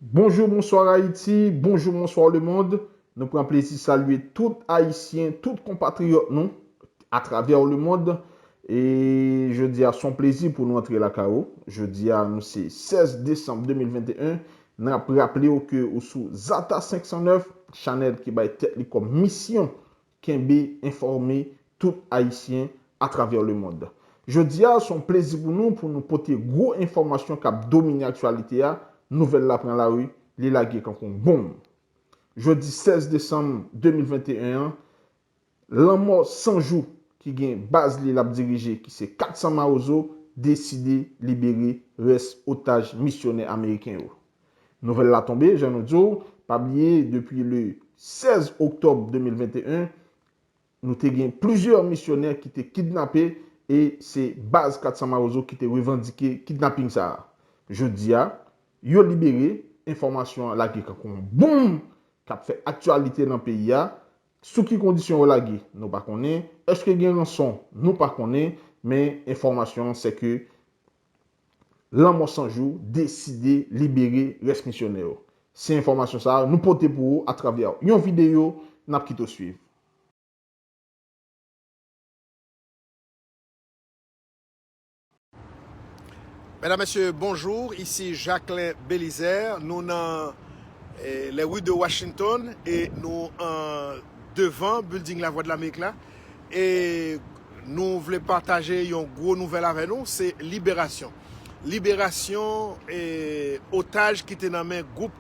Bonjou, bonswa Ayiti, bonjou, bonswa le mond. Nou pran plezi salye tout Ayisyen, tout konpatriyòt nou atravè le mond. E jodi a son plezi pou nou antre lakay ou. Jodi a nou se 16 desanm 2021. N ap raple ou ke ou sou Zata 509, chanèl ki bay tèt li kòm misyon Kenbe enfòme tout Ayisyen atravè lemond. Jodi a, son plezi pou nou pou nou pote gwo enfòmasyon k ap domine aktyalite a, nouvèl la pran lari, li lage kankou bonm. Jodi 16 desanm 2021 an, lanmò san jou ki gen baz li l ap dirije ki se 400 mawozo deside libere rès otaj misyonè ameriken yo. Nouvèl la tonbe, jan nou di w, pa bliye depi le 16 oktòb 2021, nou te gen plizyè misyonè ki te kidnape e se baz 400 mawozo ki te revandike kidnaping sa a. Jodi a, yo libere, enfòmasyon an lage kankou yon bonm k ap fè aktyalite nan peyi a. Sou ki kondisyon yo lage? Nou pa konnen. Èske gen ranson? Nou pa konnen. Men, enfòmasyon an sèke Lanmò 100 Jou deside libere rès misyonè yo. Se enfòmasyon sa yo nou pote pou ou atravè yon videyo n ap kite w suiv. Medam, Mesye, bonjour, ici Jacquelin Belizaire, nou nan les rues de Washington e nou an devan building Lavwadlamerik la. e nou vle pataje yon gwo nouvèl avè nou, se liberasyon liberasyon e otaj ki te nan men gwoup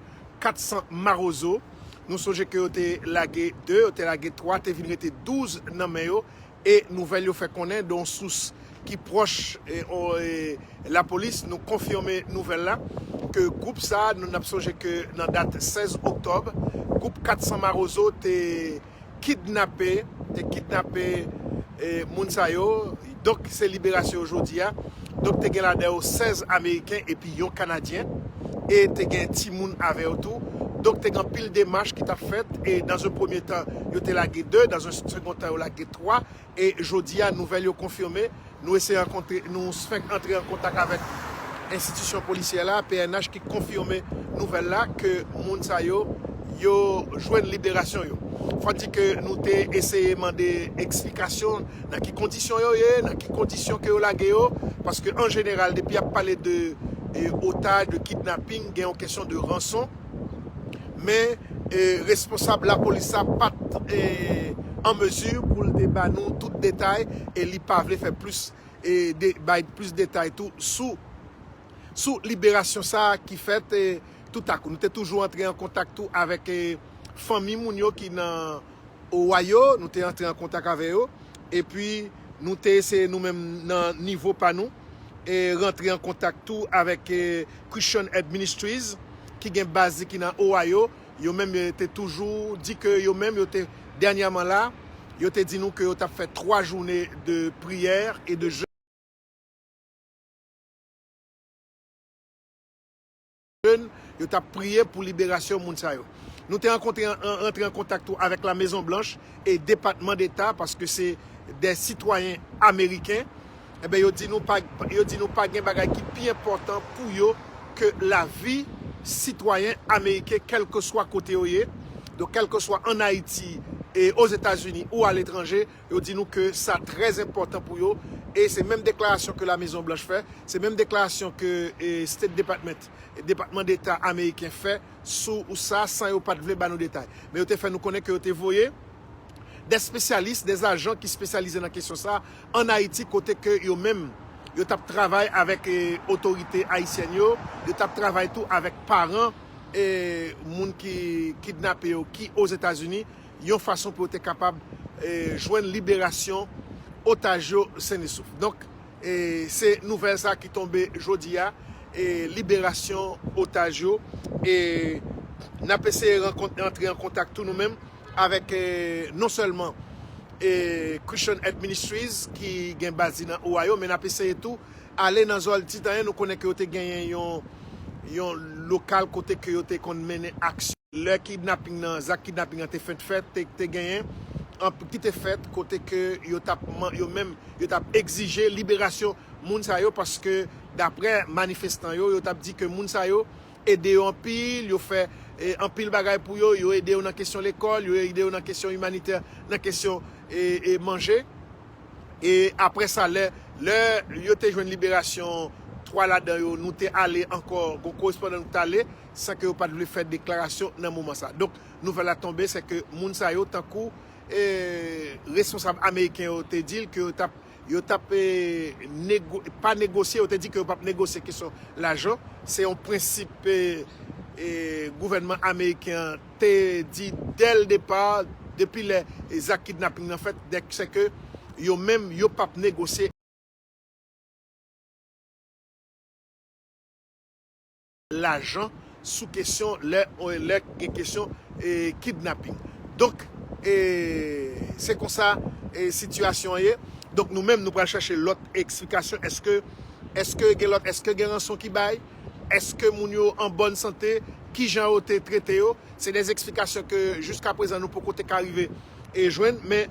400 marozo nou sonje ke yo te lage 2, yo te lage 3 te vin rete 12 nan men yo e nouvèl yo fè konnen de yon sous ki pwòch e lapolis nou konfime nouvèl la ke gwoup sa nou nap sonje ke nan dat 16 oktòb gwoup 400 marozo te. kidnape te kidnape moun sa yo, donk ki se liberasyon yo jodi a, donk te gen ladan yo 16 ameriken epi yon kanadyen, e te gen timoun avè yo tou, donk te gen anpil demach ki t ap fèt, e dan ze premye tan yo te lage 2, dan ze segon tan yo lage 3, E jodi a, nouvèl yo konfime, nou eseye rankontre, nou fenk antre an kontak avèk enstitisyon polisyè la, pnh, ki konfime nouvèl la ke moun sa yo, yo jwenn liberasyon yo. Fò di ke nou te eseye mande eksplikasyon nan ki kondisyon yo ye, nan ki kondisyon ke yo lage yo, paske an jeneral depi y ap pale de otaj, de kidnaping, gen yon kesyon de ranson. men responsab lapolis la pat an mezi pou l te ba nou tout detay e li pa vle fè plis bay plis detay tou sou liberasyon sa ki fèt toutakou. Nou te toujou antre an kontak tou avèk fanmi moun yo ki nan. Owa yo, nou te antre an kontak avè yo, epi nou te eseye nou menm nan nivo pa nou e rantre an kontak tou avèk Christian Aid Ministries ki gen baz li ki nan Ohio, yo menm yo te toujou di ke yo menm yo te dènyèman la, yo te di nou ke yo tap fè 3 joune de priyè e de jèn. jeune, yo t ap priye pou liberasyon moun sa yo. Nou te ankontre antre an kontak tou avèk La Mezon Blanch e Depatman Deta paske se 2 sitwayen ameriken. Enben yo di nou pa yo di nou pa gen bagay ki pi enpòtan pou yo ke lavi sitwayen ameriken kèlkeswa kote yo ye. Donk kèlkeswa an Ayiti, Ozetazini ou aletranje. Yo di nou ke sa trè enpòtan pou yo e se menm deklarasyon ke La Mezon Blanch fè, se menm deklarasyon ke State Department, Depatman Deta Ameriken fè sou sa san yo pat vle ba nou detay. Men yo te fè nou konnen ke yo te voye dè spesyalis, dè ajan ki spesyalize nan kesyon sa an Ayiti kote ke yo menm yo tap travay avèk otorite ayisyèn yo, yo tap travay tou avèk paran moun ki kidnape yo ki Ozetazini. yon fason pou yo te kapab jwenn liberasyon otaj yo sennesouf. Donk se nouvèl sa ki tonbe jodi a, liberasyon otaj yo e n ap eseye antre an kontak tou nou menm avèk non sèlman Christian Aid Ministries ki gen baz li nan Ohio men n ap eseye tou ale nan zòn Titanyen nou konnen ke yo te genyen yon lokal kote ke yo te konn mennen aksyon. Lè kidnaping nan, zak kidnaping nan te fent fèt, te te genyen anp ki te fèt kote ke yo tap man, yo menm, yo tap egzije liberasyon moun sa yo paske daprè manifestan yo, yo tap di ke moun sa yo ede yo anpil, yo fè e anpil bagay pou yo, yo ede yo nan kesyon lekòl, yo ede yo nan kesyon imanitè, nan kesyon e e manje. E aprè sa lè, lè yo te jwenn liberasyon 3 ladan yo, nou te ale ankò, gon korespondan nou ki t ale. san ke yo pat vle fè deklarasyon nan moman sa. Donk nouvèl la tonbe se ke moun sa yo tankou responsab ameriken yo te di l ke yo tap yo tap pa negosye, yo te di ke yo pap negosye kesyon lajan, se yon prensip gouvènman ameriken an te di dè l depa, depi lè zak kidnaping nan fèt, dèk se ke yo menm yo pap negosye. lajan sou kesyon lè lè gen kesyon kidnapping donk se konsa sitiyasyon an ye donk nou menm nou pral chache lòt eksplikasyon eske eske gen lòt eske gen ranson ki bay eske moun yo an bòn sante kijan yo te trete yo se de eksplikasyon ke jiskaprezan nou poko te ka rive jwenn men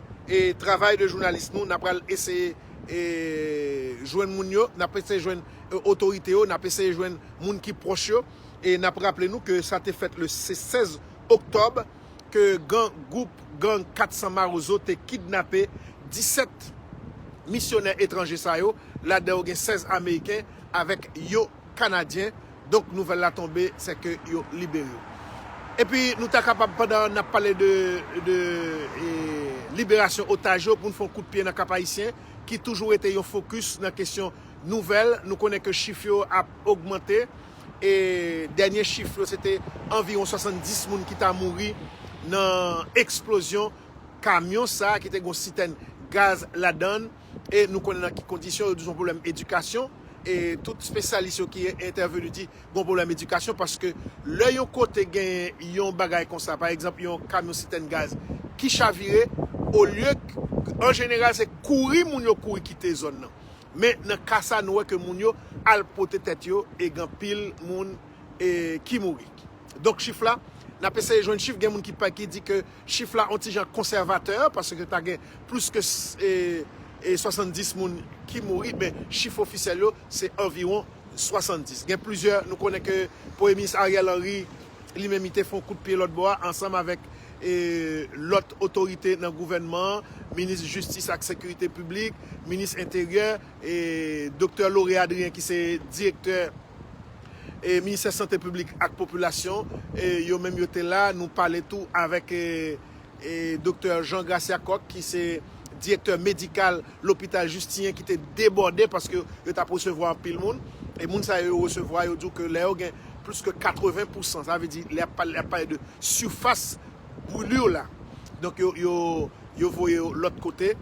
travay de jounalis nou na pral eseye. jwenn moun yo, n ap eseye jwenn otorite yo, n ap eseye jwenn moun ki pwòch yo, e n ap raple nou ke sa te fèt le 16 oktòb ke gang, gwoup gang 400 mawozo te kidnape 17 misyonè etranje sa yo, ladan yo gen 16 ameriken avèk yon kanadyen Donk nouvèl la tonbe sè ke yo libere. Epi nou ta kapab pandan nap pale de de liberasyon otaj yo poun fè yon kout pye nan Kap Ayisyen ki toujou rete yon fokis nan kesyon nouvèl. Nou konnen ke chif yo ap ogmante e dènye chif yo se te anviwon 70 moun ki ta mouri nan eksplozyon kamyon sa ki te gon sitèn gaz ladann. e nou konnen nan ki kondisyon yo di son pwoblèm edikasyon e tout spesyalis yo ki entèveni di gon pwoblèm edikasyon paske lè yon kote genyen yon bagay konsa pa egzanp yon kamyon sitèn gaz ki chavire olye an jeneral se kouri moun yo kouri kite zòn nan men nan ka sa nou wè ke moun yo al pote tèt yo e gen anpil moun ki mouri donk chif la n ap eseye jwenn chif gen moun ki di ke Chif la on ti jan konsèvatè paske ta gen plis ke 70 moun ki mouri men chif ofisyèl yo se anviwon 70. Gen plizyè, nou konnen ke Premye Minis Ariel Henry li menm li te fè on kout pye lòt bò a ansanm avèk lòt otorite nan gouvènman an, Minis Jistis ak Sekirite Piblik, Minis Enteryè. e Doktè Lauré Adrien ki se direktè e ministè sante piblik ak popilasyon e yo menm yo te la nou pale tou avèk e e Doktè Jean Gracia Coq ki se direktè medikal lopital Justinyen ki te debòde paske yo tap resevwa anpil moun e moun sa yo yo resevwa yo di w ke lè yo gen plis ke 80 pousan sa vle di lè yap pale yap pale de sifas brûlure la donk yo yo yo voye yo lòt kote.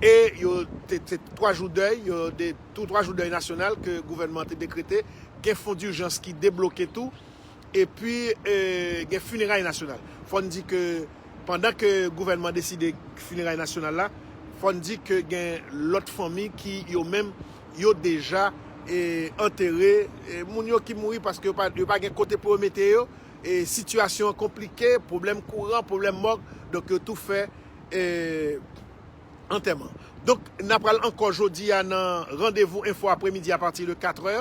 e yo te se 3 jou dèy yo de 3 jou dèy nasyonal ke gouvènman an te dekrete gen fon durjans ki debloke tou epi gen fineray nasyonal fò n di ke pandan ke gouvènman deside fineray nasyonal la fò n di ke gen lòt fanmi ki yo menm yo deja antere moun yo ki mouri paske yo pa gen kote pou yo mete yo e sitiyasyon an konplike pwoblèm kouran pwoblèm mòg donk yo tou fè. antèman. Donk na pral ankò jodi a nan randevou enfo apremidi a pati de 4 è,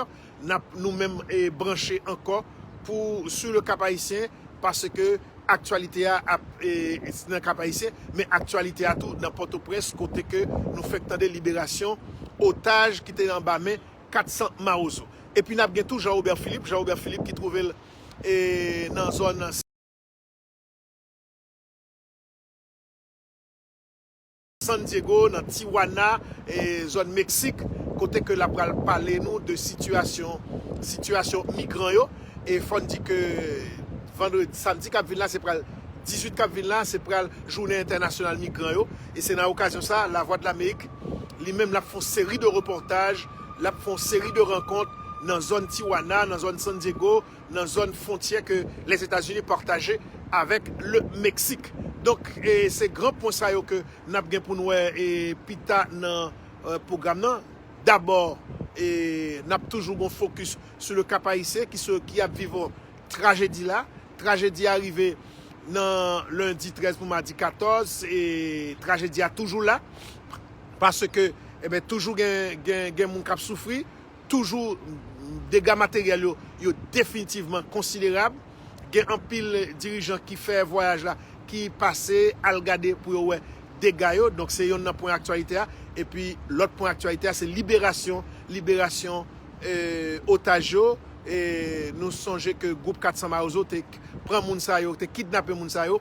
nap nou menm branche ankò pou su le Kap Ayisyen paske aktyalite a ap nan Kap Ayisyen men aktyalite a tou nan Pòtoprens kote ke nou fèk tande liberasyon otaj ki te anba men 400 mawozo. Epi nap gen tou Jean Robert Philippe, Jean Robert Philippe ki twouve l nan zòn. San Diego nan Tijuana zòn Meksik kote ke lap pral pale nou de sitiyasyon sitiyasyon migran yo e fòn di ke vandredi samdi kap vin la se pral 18 kap vin la se pral jounen entènasyonal migran yo e se nan okazyon sa Lavwadlamerik li menm lap fon seri de repòtaj lap fon seri de rankont nan zòn Tijuana nan zòn San Diego nan zòn fwontyè ke Lèzetazini pataje avèk Le Meksik. Donk, se gran pwen sa yo ke n ap gen pou n wè pita nan pwogram nan. Dabò, n ap toujou gen yon fokis sou le Kap Ayisyen ki ap viv trajedi la. Trajedi a rive nan lendi 13 pou madi 14 e trajedi a toujou la. Paske, toujou gen moun k ap soufri. toujou dega materyèl yo yo definitivman konsiderab. Gen anpil dirijan ki fè vwayaj la ki pase al gade pou yo wè dega yo. Donk se yonn nan pwen aktyalite a. Epi lòt pwen aktyalite a se liberasyon liberasyon otaj yo. Nou sonje ke gwoup 400 Mawozo te pran moun sa yo, te kidnape moun sa yo.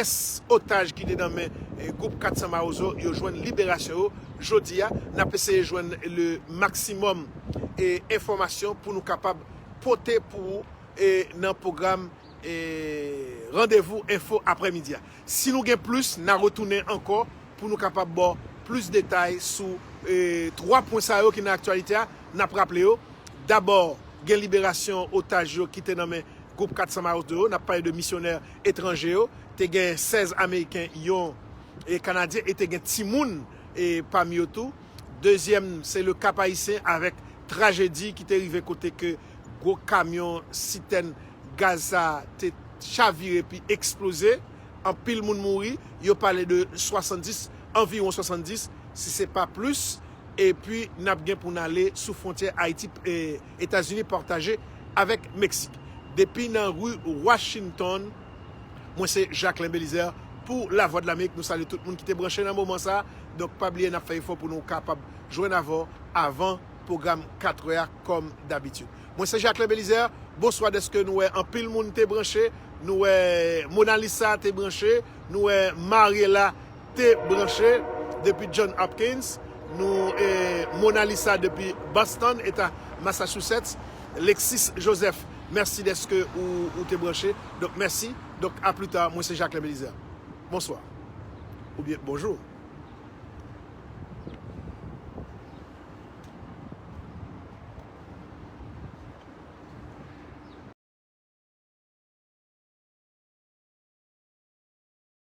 Rès otaj ki te nan men gwoup 400 Mawozo yo jwenn liberasyon yo jodi a. N ap eseye jwenn le maksimòm enfòmasyon pou nou kapab pote pou ou nan pwogram Randevou Enfo aprèmidi a. Si nou gen plis, n a retounen ankò pou nou kapab ba w plis detay sou 3 pwen sa yo ki nan aktyalite a. N ap raple yo, dabò gen liberasyon otaj yo ki te nan men gwoup 400 Mawozo yo, n ap pale de misyonè etranje yo, te gen 16 ameriken, yon kanadyen e te gen timoun pami yo tou. Dezyèm se le Kap Ayisyen avèk trajedi ki te rive kote ke gwo kamyon sitèn gaz sa te chavire epi eksploze, anpil moun mouri, yo pale de 70, anviwon 70 si se pa plis epi nap gen pou n ale sou fwontyè Ayiti. Etazini pataje avèk Meksik. Depi nan ri Washington, mwen se Jacquelin Belizaire pou Lavwadlamerik. Nou salye tout moun ki te branche nan moman sa a. Donk pa bliye n ap fè efò pou nou kapab jwenn avè w avan pwogram katrè a kòm dabitid. Mwen se Jacquelin Belizaire. Bonswa dèske nou wè anpil moun te branche. Nou wè Monalisa te branche. Nou wè Mariela. Te branche depi John Hopkins, nou e Mona Lisa depi Boston, eta Massachusetts, Lexis Joseph merci deske ou te branche, donk merci, donk a plus tard mwen se Jacquelin Belizaire. Bonswa. Oubyen bonjou.